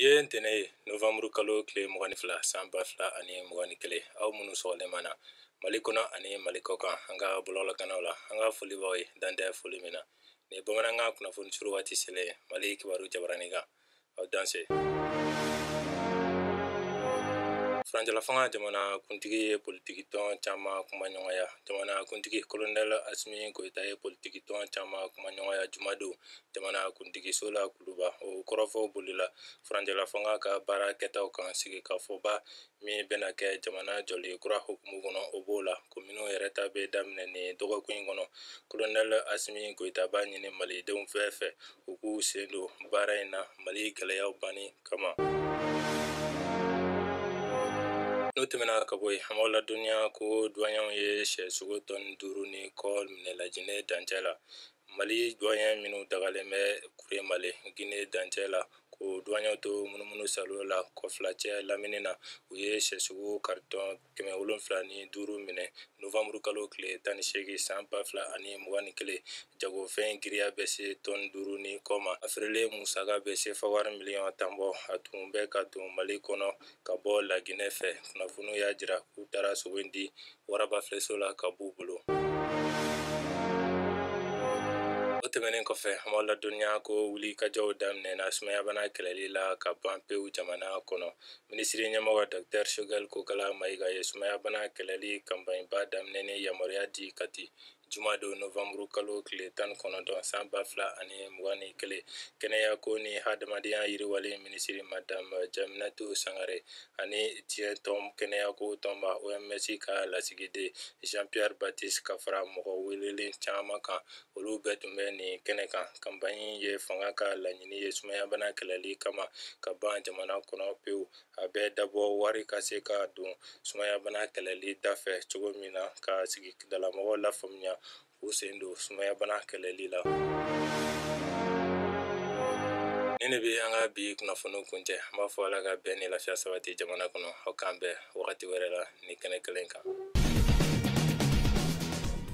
ye ntɛnɛn ye novanburu kalo tile mugan ni fila san ba fila ani mugan ni kelen aw minnu sɔgɔlen b'an na mali kɔnɔ ani mali kɔkan an ka bɔlɔlɔkannaw la an ka foli b'aw ye dan tɛ foli min na nin ye bamanankan kunnafoni surun waati selen mali kibaru jabaranin kan aw danse furancɛlafanga jamana kuntigi ye politiki tɔn caman kumaɲɔgɔnya jamana kuntigi kolonɛl asimi koyita ye politiki tɔn caman kumaɲɔgɔnya jumadon jamana kuntigi so la kuluba o kɔrɔfɔ bolila furancɛlafanga ka baara kɛtaw kan sigikafɔba min bɛna kɛ jamana jɔli kura hukumu kɔnɔ o b'o la kominiw yɛrɛ ta bɛ daminɛ nin dɔgɔkun in kɔnɔ kolonɛl asimi goyita b'a ɲini malidenw bɛɛ fɛ u k'u sen don baara in na mali gɛlɛyaw banni kama n'o tɛmɛna ka bɔ yen an b'aw ladɔnniya ko duwaɲɛw ye sɛsogo tɔni duuru ni kɔ minɛ lajinɛ dancɛ la Mali duwaɲɛ minnu dagalen bɛ Kuremale Gine dancɛ la ko duwaɲɛw to munumunu salo la kɔfilacɛ lamini na u ye sɛsogo karitɔn 705 minɛ novanburu kalo tile 18 san 2021 jagofɛn giriya bɛ se tɔni 5 ni kɔ ma a feerelen musaka bɛ sefa wari miliyɔn tan bɔ a tun bɛ ka don Mali kɔnɔ ka bɔ laginɛ fɛ kunnafoniw y'a jira k'u taara sogo in di warabafilɛso la ka b'u bolo o tɛmɛnen kɔfɛ an b'aw ladɔnniya ko wulikajɔw daminɛna sumayabana kɛlɛli la ka ban pewu jamana kɔnɔ minisiri ɲɛmɔgɔ dɔktɛr shogɛl kokala mayiga ye sumayabana kɛlɛli kanpaɲiba daminɛni yamaruya di kati jumadon novanburu kalo tile tan ni kɔnɔntɔn san ba fila ani mugan ni kelen kɛnɛya ko ni hadamadenya yiriwali minisiri madame jaminatu sangare ani diɲɛ tɔn kɛnɛya ko tɔnba oms ka lasigiden jean pierre baptiste ka fara mɔgɔ welelen caman kan olu bɛɛ tun bɛ nin kɛnɛ kan kanpaɲi ye fanga ka laɲini ye sumayabana kɛlɛli kama ka ban jamana kɔnɔ pewu a bɛ dabɔ wari ka se ka don sumayabana kɛlɛli dafɛ cogo min na ka sigidalamɔgɔw lafaamuya k'u sen don sumayabana kɛlɛli la nin de bɛ an ka bi kunnafoni kuncɛ an b'a fɔ ala ka bɛn ni lafiya sabati jamana kɔnɔ aw k'an bɛn wagati wɛrɛ la nin kɛnɛ kelen kan